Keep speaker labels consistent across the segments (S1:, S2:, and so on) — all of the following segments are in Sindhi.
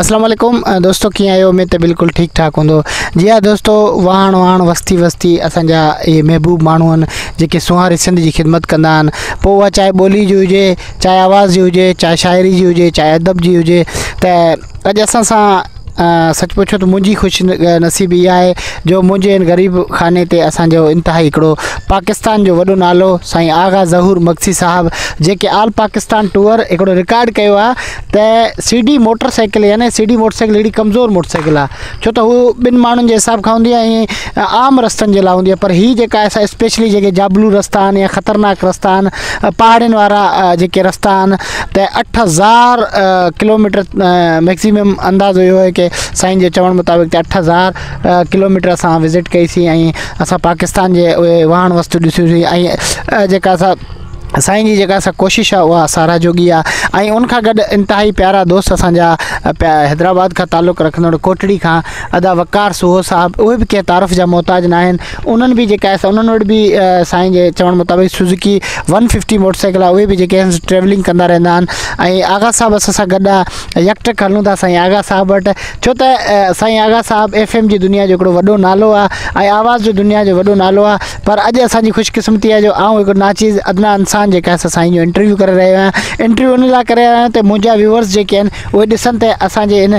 S1: اسلام عليڪم دوستو ڪيئن آهيو اميد ته بلڪل ٺيڪ ٺاڪ هوندو جي ها دوستو واهڻ واهڻ وستي وستي اسانجا اهي محبوب ماڻهو آهن جيڪي سونهاري سنڌ جي خدمت ڪندا آهن پوء اها چاهي ٻولي جي هجي چاهي آواز جي هجي چاهي شاعري جي هجي چاهي ادب جي هجي ته اڄ اسان سان سچ پڇو ته منهنجي خوش نصيبي اها آهي جو منهنجي ان غريب خاني تي اسانجو انتهائي هڪڙو پاڪستان جو وڏو نالو سائين آغا ظهور مگسي صاحب جيڪي آل پاڪستان ٽوئر هڪڙو رڪارڊ ڪيو آهي ته سي ڊي موٽر سائيڪل يعني سي ڊي موٽر سائيڪل هڪڙي ڪمزور موٽر سائيڪل آهي ڇو ته هو ٻن ماڻهن جي حساب کان هوندي آهي ۽ عام رستن جي لاء هوندي آهي پر هي جيڪا اسپيشلي جيڪي جابلو رستا آهن يا خطرناڪ رستا آهن پهاڙين وارا جيڪي رستا آهن ته اٺ هزار ڪلوميٽر ميڪسيمم اندازو اهو آهي ڪي سائين جي چوڻ مطابق اٺ هزار ڪلوميٽر اسان وزٽ ڪئي سي ۽ اسان پاڪستان جي اهي واهڻ وستو ڏسيون سي ۽ جيڪا اسان سائين جي جيڪا اسا ڪوشش آهي اها سارا جوڳي آهي ۽ ان کان گڏ انتهائي پيارا دوست اسان جا حيدرآباد کان تعلق رکندڙ ڪوٽڙي کان ادا وقار سوهو صاحب اهي به ڪي تعارف جا محتاج ناهن انهن به جيڪا آهي سا انهن وٽ به سائين جي چوڻ مطابق Suzuki one fifty motorcycle آهي اهي به جيڪي آهن ٽريولنگ ڪندا رهندا آهن ۽ آغا صاحب اسان سان گڏ آهي يڪٽڪ هلون ٿا سائين آغا صاحب وٽ ڇو ته سائين آغا صاحب ايف ايم جي دنيا جو هڪڙو وڏو نالو آهي ۽ آواز جو دنيا جو وڏو نالو آهي پر اڄ اسان جي خوش قسمتي آهي جو آئون هڪڙو ناچيز ادنا انسان جيڪا آهي سا سائين جو انٽرويو ڪري رهيو آهيان انٽرويو ان لاء ڪري رهيو آهيان ته منهنجا ويوورس جيڪي آهن اهي ڏسن ته اسان جي هن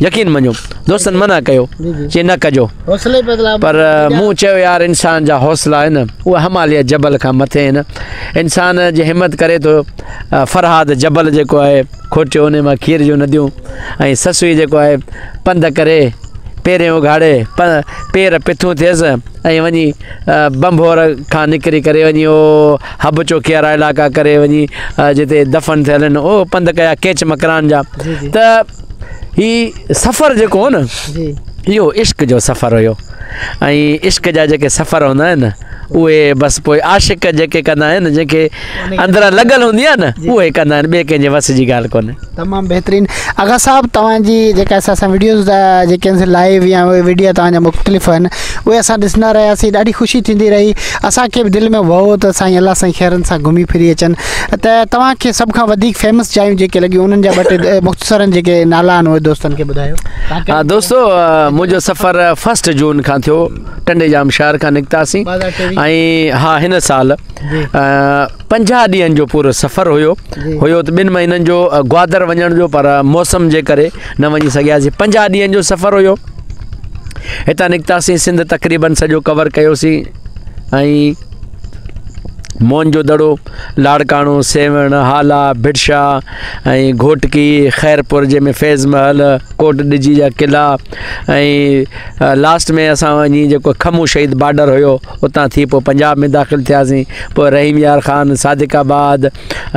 S2: يقين مڃو دوستن منع ڪيو چي نه ڪجو پر مون چيو يار انسان جا حوصلا آهن اهو هماليه جبل کان مٿي آهن انسان جي همت ڪري ٿو فرهاد جبل جيڪو آهي کوٽيو ان مان کير جون نديون ۽ سسوي جيڪو آهي پنڌ ڪري پيرين اگهاڙي پير پٿون ٿيس ۽ وڃي بمبور کان نڪري ڪري وڃي او حب چوڪي وارا علائقا ڪري وڃي جتي دفن ٿيل آهن او پنڌ ڪيا ڪيچ مڪران جا ته هي سفر جيڪو هو نه اهو عشق جو سفر هيو ۽ عشق جا جيڪي سفر هوندا آهن نه اهي بس پوء عاشق جيڪي ڪندا آهن جن کي اندرا لڳل هوندي آهي نه اهي ڪندا آهن ٻئي ڪنهنجي وس جي ڳالهه ڪونهي تمام بهترين
S1: آغا صاحب توهان جي جيڪا اسان سان ويڊيوز جيڪي آهن لائيو يا ويڊيو توهان جا مختلف آهن اهي اسان ڏسندا رهياسين ڏاڍي خوشي ٿيندي رهي اسانکي به دل ۾ وهو ته سائين الله سائين خيرن سان گهمي ڦري اچن ته توهان کي سڀ کان وڌيڪ فيمس جايون جيڪي لڳيون انهن جا ٻه ٽي مختصرن جيڪي نالا آهن اهي دوستن کي ٻڌايو ها دوستو
S2: منهنجو سفر فسٽ جون کان ٿيو ٽنڊي جام شهر کان نڪتاسين ۽ ها هن سال پنجاهه ڏينهن جو پورو سفر هيو هيو ته ٻن مهينن جو گوادر وڃڻ جو پر موسم جي ڪري نه وڃي سگهياسين پنجاهه ڏينهن جو سفر هيو هتان نڪتاسين سنڌ تقريبن سڄو ڪور ڪيوسين ۽ موهن جو دڙو، لاڙڪاڻو، سيوهڻ، هالا، ڀٽشاه ۽ گهوٽڪي، خيرپور جنهن ۾ فيض محل، ڪوٽ ڏجي جا قلعا ۽ لاسٽ ۾ اسان وڃي جيڪو کمون شهيد بارڊر هيو اتان ٿي پوء پنجاب ۾ داخل ٿياسين پوء رحيم يار خان، صادق آباد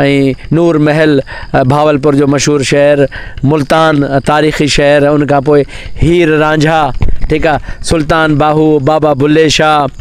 S2: ۽ نور محل بهاولپور جو مشهور شهر، ملتان تاريخي شهر ان کان پوء هير رانجها ٺيڪ آهي سلطان باهو، بابا بلي شاهه.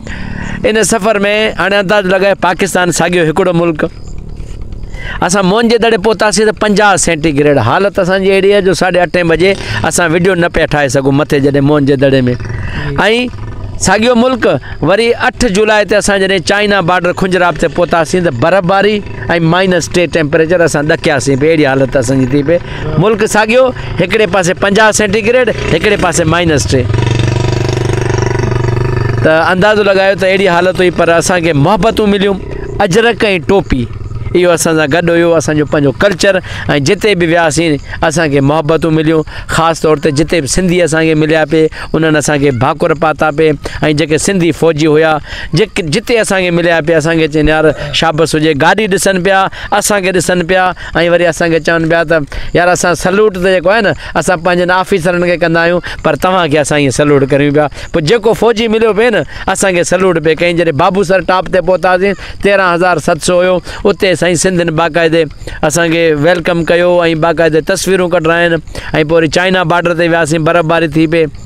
S2: ان سفر ۾ هاڻي انداز لڳائي پاڪستان ساڳيو هڪڙو ملڪ اسان مون جي دڙي پهتاسي ته پنجاهه سينٽي گريڊ حالت اسان جي اهڙي جو ساڍي اٺين بجي اسان ويڊيو نه پيا ٺاهي سگهون مٿي جڏهن مون جي دڙي ۾ ۽ ساڳيو ملڪ وري اٺ جولاء تي اسان جڏهن چائنا بارڊر کنجراب تي پهتاسي ته برف باري ۽ مائنس ٽي ٽيمپريچر اسان ڏکياسي پي اهڙي حالت اسان جي ٿي پي ملڪ ساڳيو، هڪڙي پاسي پنجاهه سينٽي گريڊ، هڪڙي پاسي مائنس ٽي. ته اندازو لڳايو ته اهڙي حالت هئي پر اسان کي محبتون مليون، اجرڪ ۽ ٽوپي اهو اسان سان گڏ هيو، اسان جو پنهنجو ڪلچر ۽ جتي به وياسين اسان کي محبتون مليون، خاص طور تي جتي به سنڌي اسان کي مليا پي انهن اسان کي ڀاڪر پاتا پي ۽ جيڪي سنڌي فوجي هيا جتي اسان کي مليا پي اسان کي چين يار شابس هجي، گاڏي ڏسن پيا، اسان کي ڏسن پيا. ۽ وري اسان کي چون پيا ته يار اسان سلوٽ ته جيڪو آهي نه اسان پنهنجن آفيسرن کي ڪندا آهيون پر توهان کي اسان ائين سلوٽ ڪريون پيا پوء جيڪو فوجي مليو پئي نه اسان کي سلوٽ پئي ڪئين جڏهن بابوسر ٽاپ تي پهتاسين تيرهن هزار ست سو هيو اتي سائين سنڌين باقاعدي اسان کي ويلڪم ڪيو ۽ باقاعدي تصويرون ڪڍرايائين ۽ پوء وري چائنا بارڊر تي وياسين برف باري ٿي پئي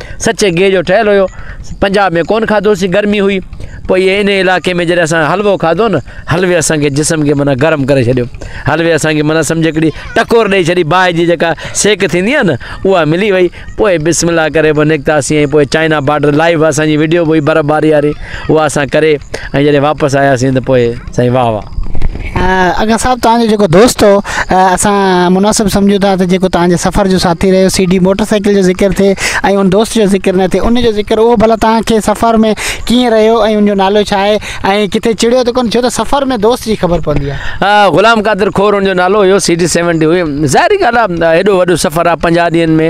S2: سچي گيهه جو ٺهيل هيو پنجاب ۾ ڪون کاڌوسي گرمي هئي پوء اهي ان علائقي ۾ جڏهن اسان حلوو کاڌو نه حلوي اسان کي جسم کي معنی گرم ڪري ڇڏيو حلوي اسان کي معنی سمجھ هڪڙي ٽڪور ڏيئي ڇڏي باهه جي جيڪا سيڪ ٿيندي آهي نه اها ملي وئي پوء بسم الله ڪري پوء نڪتاسي ۽ پوء چائنا بارڊر لائيو اسان جي وڊيو به هئي برف باري واري اها اسان ڪري ۽ جڏهن واپس آياسين ته پوء سائين واهه واهه اگا
S1: صاحب توهان جو جيڪو دوست هو اسان مناسب سمجهون ٿا ته جيڪو توهان جي سفر جو ساٿي رهيو سي ڊي موٽر سائيڪل جو ذڪر ٿئي ۽ ان دوست جو ذڪر نه ٿئي ان جو ذڪر اهو ڀلا توهان کي سفر ۾ ڪيئن رهيو ۽ ان جو نالو ڇا آهي ۽ ڪٿي چڙهيو ته ڪونه ڇو ته سفر ۾ دوست جي خبر پوندي آهي غلام قادر کور ان
S2: جو نالو هيو سي ڊي سيونٽي هئي ظاهري ڳالهه آهي هيڏو وڏو سفر آهي پنجاهه ڏينهن ۾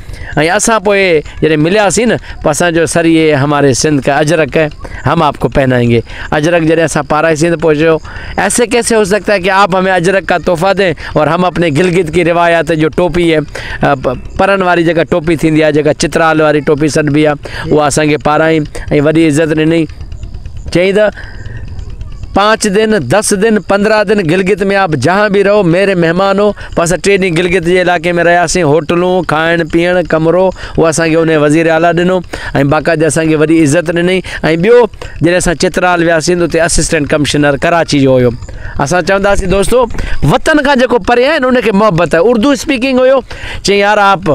S2: ۽ اسان پوء جڏهن ملياسين نه پوء اسان چيو سر يي هماري سنڌ ڪا اجرڪ هي هم آپ ڪو پهنائين گي اجرڪ جڏهن اسان پارائيسين ته پوء چيو ايسي ڪيسي هو سگتا هي ڪي آپ همي اجرڪ ڪا تحفا دين اور هم اپني گلگت ڪي روايات جو ٽوپي هي پرن واري جيڪا ٽوپي ٿيندي آهي جيڪا چترال واري ٽوپي سڏبي آهي اها اسان کي پارائين ۽ وڏي عزت ڏني چيائين ته پانچ دن دس دن پندرهن دن گلگت ۾ آپ جهان به رهو ميري مهمان هو پوء اسان ٽي ڏينهن گلگت جي علائقي ۾ رهياسين. هوٽلون، کائڻ پيئڻ، ڪمرو اهو اسان کي انهيء وزير اعليٰ ڏنو ۽ باقاعدي اسان کي وڏي عزت ڏنئي ۽ ٻيو جڏهن اسان چترال وياسين ته اتي اسسٽنٽ ڪمشنر ڪراچي جو هيو. اسان چونداسين دوستو وطن کان جيڪو پري آهي نه ان کي محبت آهي. اردو اسپيڪنگ هيو. چيائين يار آپ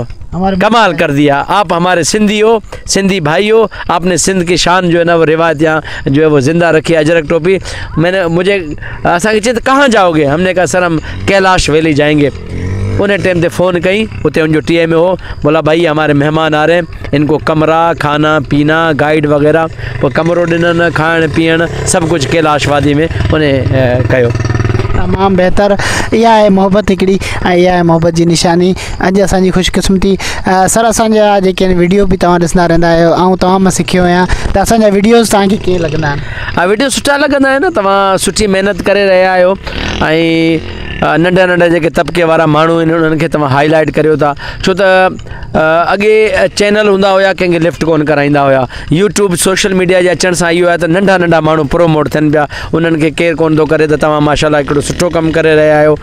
S2: ڪمال ڪر ديا. آپ هماري سنڌي هو. سندي ڀائيو آپ ني سنڌ ڪي شان جو نا روايت يا جو هي وو زنده رکي اجرڪ ٽوپي مي ني مجھي اسان کي چيت ڪهان جاؤ گي هم ني ڪها سر هم ڪيلاش ويلي جائين گي ان ٽيم تي فون ڪئي اتي ان جو ٽي ايم اي هو بولا بھائي هماري مهمان آ رهي ان ڪو ڪمرا کانا پينا گائيڊ وغيره پو ڪمرو ڏنن کائڻ پيئڻ سڀ ڪجھه ڪيلاش وادي ۾ ان ڪيو تمام بهتر
S1: اها آهي محبت هڪڙي ۽ اها آهي محبت جي نشاني اڄ اسان جي خوشقسمتي سر اسان جا جيڪي آهن ويڊيو به تواں ڏسندا رهندا آهيو آئون تواں ما سکيو آهيان ته اسان جا ويڊيوز تواں کي ڪيئن لڳندا آهن ها ويڊيو سٺا لڳندا آهن
S2: تواں سٺي محنت ڪري رهيا آهيو ۽ ننڍا ننڍا جيڪي طبقي وارا ماڻهو آهن انهن کي تواں هائي لائيٽ ڪريو ٿا ڇو ته اڳي چينل هوندا هيا ڪنهن کي لفٽ ڪون ڪرائيندا هيا يوٽيوب سوشل ميڊيا جي اچڻ سان اهو آهي ته ننڍا ننڍا ماڻهو پروموٽ ٿين پيا انهن کي ڪير ڪون ٿو ڪري ته تواں ماشاء الله هڪڙو سٺو ڪم ڪري رهيا آهيو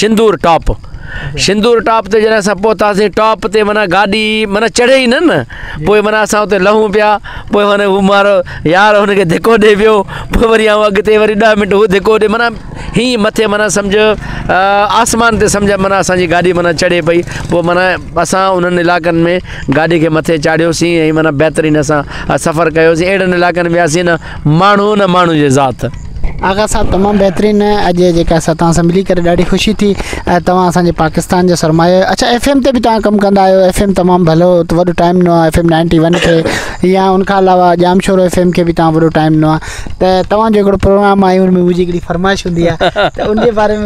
S2: شندور ٽاپ شندور ٽاپ تي جڏهن اسان پهتاسين ٽاپ تي مانا گاڏي مانا چڙهي ئي نه نه پوء مانا اسان اتي لهون پيا پوء مانا هو مارو يار هنکي ڌڪو ڏئي ويو پوء وري آئون اڳتي وري ڏهه منٽ هو ڌڪو ڏئي مانا هيئي مٿي مانا سمجھ آسمان تي سمجھ مانا اسانجي گاڏي مانا چڙهي پئي پوء مانا اسان انهن علائقن ۾ گاڏي کي مٿي چاڙهيوسين ۽ مانا بهترين اسان سفر ڪيوسين اهڙن علائقن وياسين ماڻهو نه ماڻهو جي ذات. آغا صاحب
S1: تمام بهترين اڄ جيڪا اسان تان سان ملي ڪري ڏاڍي خوشي ٿي ۽ توهان اسان جي پاڪستان جا سرمايا آهيو اڇا ايف ايم تي به توهان ڪم ڪندا آهيو ايف ايم تمام ڀلو وڏو ٽائيم ڏنو آهي ايف ايم نائنٽي ون کي يا ان کان علاوه ڄام شورو ايف ايم کي به توهان وڏو ٽائيم ڏنو آهي ته توهان جو هڪڙو پروگرام آهي ان ۾ منهنجي هڪڙي فرمائش هوندي آهي ته ان جي باري ۾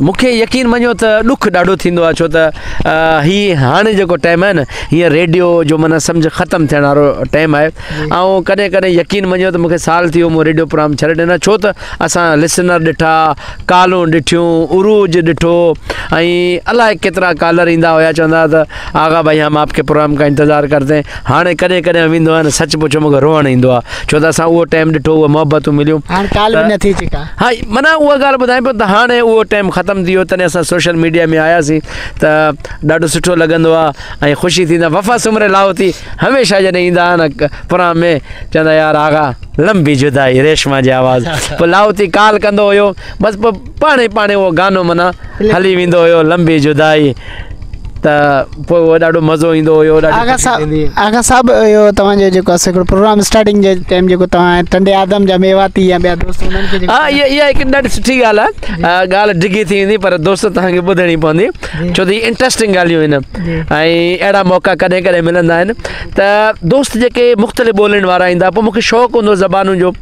S2: مون کي يقين مڃيو ته ڏک ڏاڍو ٿيندو آهي ڇو ته هي هاڻي جيڪو ٽائيم آهي نه هينئر ريڊيو جو معنيٰ سمجهه ختم ٿيڻ وارو ٽائيم آهي آئون ڪڏهن ڪڏهن يقين مڃيو ته مون کي سال ٿي ويو مون ريڊيو پروگرام ڇڏي ڏنا ڇو ته اسان لسنر ڏٺا ڪالون ڏٺيون عروج ڏٺو ۽ الائي ڪيترا ڪالر ايندا هيا چوندا هيا ته آغا ڀائي ھم آپ ڪي پروگرام ڪا انتظار ڪرتي ھين ھاڻي ڪڏھن ڪڏھن ويندو آھيان سچ پڇو مونکي روئڻ ايندو آ ڇو ته اسان اھو ٽيم ڏٺو اھي محبتون مليون ھاڻ ڪال به نه ٿي چڪا ھا معنيٰ اھا ڳالھ ٻڌايان پيو ته ھاڻي اھو ٽيم ختم ٿي ويو تڏھن اسان سوشل ميڊيا ۾ آياسين ته ڏاڍو سٺو لڳندو آ ۽ خوشي ٿيندي آ وفا سومري لاھوتي ھميشه جڏھن ايندا ھا نه پروگرام ۾ چوندا يار آغا لمبي جدائي ريشما جي آواز پوء لاھوتي ڪال ڪندو ھيو بس پوء پاڻھي پاڻھي اھو گانو معنيٰ ھلي ويندو ھيو لمبي جدائي ته پوء اهو ڏاڍو مزو ايندو هيو آغا صاحب
S1: آغا صاحب اهو توهان جو جيڪو اسي هڪڙو پروگرام اسٽارٽنگ جي ٽائيم جيڪو توهان ٽنڊي آدم جا ميواتي يا ٻيا دوست انهن کي ها اها اها هڪ ڏاڍي
S2: سٺي ڳالهه آهي ڳالهه ڊگهي ٿي ويندي پر دوست توهان کي ٻڌڻي پوندي ڇو ته هي انٽرسٽنگ ڳالهيون آهن ۽ اهڙا موقعا ڪڏهن ڪڏهن ملندا آهن ته دوست جيڪي مختلف ٻولين وارا ايندا پوء مون کي شوق هوندو زبانن جو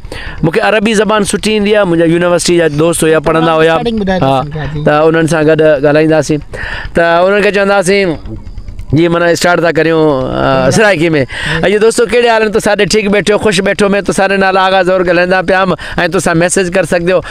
S2: مونکي عربي زبان سٺي ايندي آ منهنجا يونيورسٽي جا دوست هيا پڙهندا هيا ها ته انهن سان گڏ ڳالهائيندا سين ته انهن کي چوندا سين جي منا اسٽارٽ ٿا ڪريون سرائيڪي ۾ اڄ دوستو ڪهڙي حال آهن ته ساڍي ٺيڪ بيٺو خوش بيٺو مين تو ساري نال آغا زور ڳالهائيندا پيام ۽ تو سان ميسج ڪر سگهنديو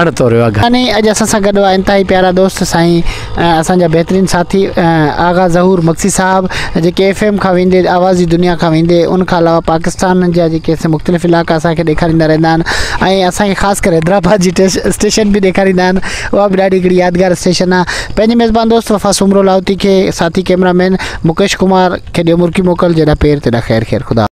S2: اڻ توريو آ گهاني اڄ اسان سان گڏ
S1: هئا انتهائي پيارا دوست سائين اسان جا بهترين ساٿي آغا ظهور مگسي صاحب جيڪي ايف ايم کان ويندي آواز جي دنيا کان ويندي ان کان علاوه پاڪستان جا جيڪي اسين مختلف علائقا اسان کي ڏيکاريندا رهندا آهن ۽ اسان کي خاص ڪري حيدرآباد جي اسٽيشن به ڏيکاريندا آهن اها به ڏاڍي هڪڙي يادگار اسٽيشن آ پنهنجي ميزبان دوست وفا سومرو لاهوتي کي ساٿي ڪيمرا مين مڪيش ڪمار کي ڏيو مرڪي موڪل جيڏا پير تيڏا خير خير خدا